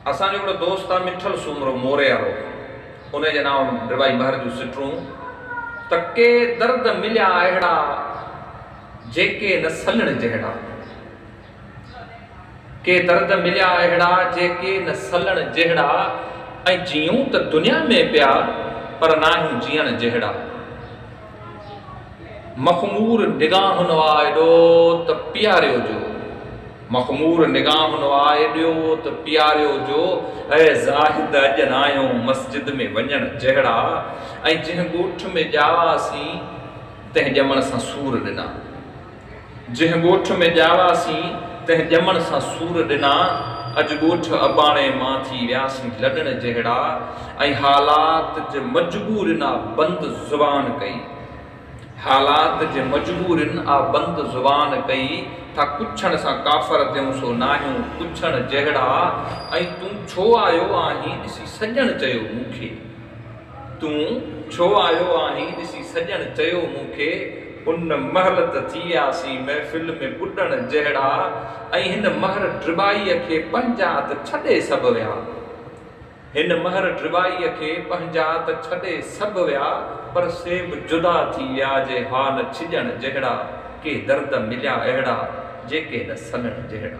اسان جو هڪڙو دوست آ مٺل سومرو موري وارو انهي جي نانء رباعي مهر جون سٽرون ته ڪي درد مليا اهڙا جيڪي نه سلڻ جهڙا ڪي درد مليا اهڙا جيڪي نه سلڻ جهڙا ۽ جيئون ته دنيا ۾ پيا پر ناهيون جيئڻ جهڙا مخمور نگاهن آء ڏو ته پياريو جو مخمور نگاهن آء ڏو ته پياريو جو اي زاهد اڄ ناهيو مسجد ۾ وڃڻ جهڙا ۽ جنهن ڳوٺ ۾ ڄاواسين تنهن ڄمڻ سان سور ڏنا. جنهن ڳوٺ ۾ ڄاواسين، تنهن ڄمڻ سان سور ڏنا، اڄ ڳوٺ اباڻي مان ٿي وياسين لڏڻ جهڙا ۽ حالات جي مجبورين آ بند زبان ڪئي حالات جي مجبورين آ بند زبان ڪئي ٿا ڪڇڻ سان ڪافر ٿيون سو ناهيون ڪڇڻ جهڙا ۽ تون ڇو آيو آهين ڏسي سڄڻ چيو مون کي. تون ڇو آيو آهين ڏسي سڄڻ چيو مون کي ان مهل ته ٿياسين محفل ۾ ٻڏڻ جهڙا ۽ هن مهر ڊرٻائيء کي پنهنجا ته ڇڏي سڀ ويا هن مهر ڊرٻائيء کي پنهنجا ته ڇڏي سڀ ويا پر سي به جدا ٿي ويا جي ها نه ڇڄڻ جهڙا ڪي درد مليا اهڙا جيڪي نه سنڙ جهڙا.